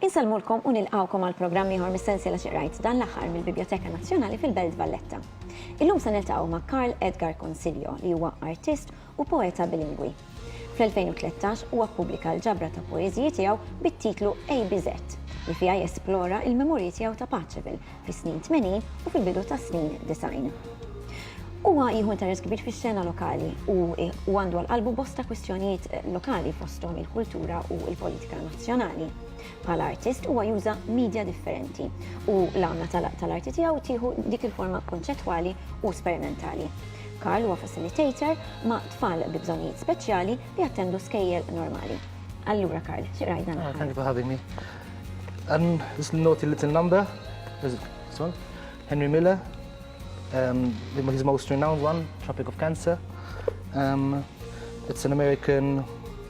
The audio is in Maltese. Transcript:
Insellmulkom u nilqgħukom għal programm ieħor mis-sensiela xi qrajt dan l-aħħar mill-Bibjoteka Nazzjonali fil-Belt Valletta. Illum se niltaqgħu ma' Karl Edgar Consiglio li huwa artist u poeta bilingwi. Fl-2013 huwa ppubblika l-ġabra ta' poeżiji tiegħu bit-titlu ABZ, li fiha jesplora l-memorji tiegħu ta' Paceville fis-snin tmenin u fil-bidu tas-snin disgħin. Huwa jieħu interess kbir fix-xena lokali u għandu għal qalbu bosta kwistjonijiet lokali fosthom il-kultura u l-politika nazzjonali. Bħala artist huwa juża media differenti u l-għamla tal-arti tiegħu tieħu dik il-forma konċettwali u sperimentali. Karl huwa facilitator ma' tfal bi bżonnijiet speċjali li jattendu skejjel normali. Allura Karl, xi rajna? Ah, thank you for having me. Um, just note a little number. This one. Henry Miller, um, his most renowned one, Tropic of Cancer. Um, it's an American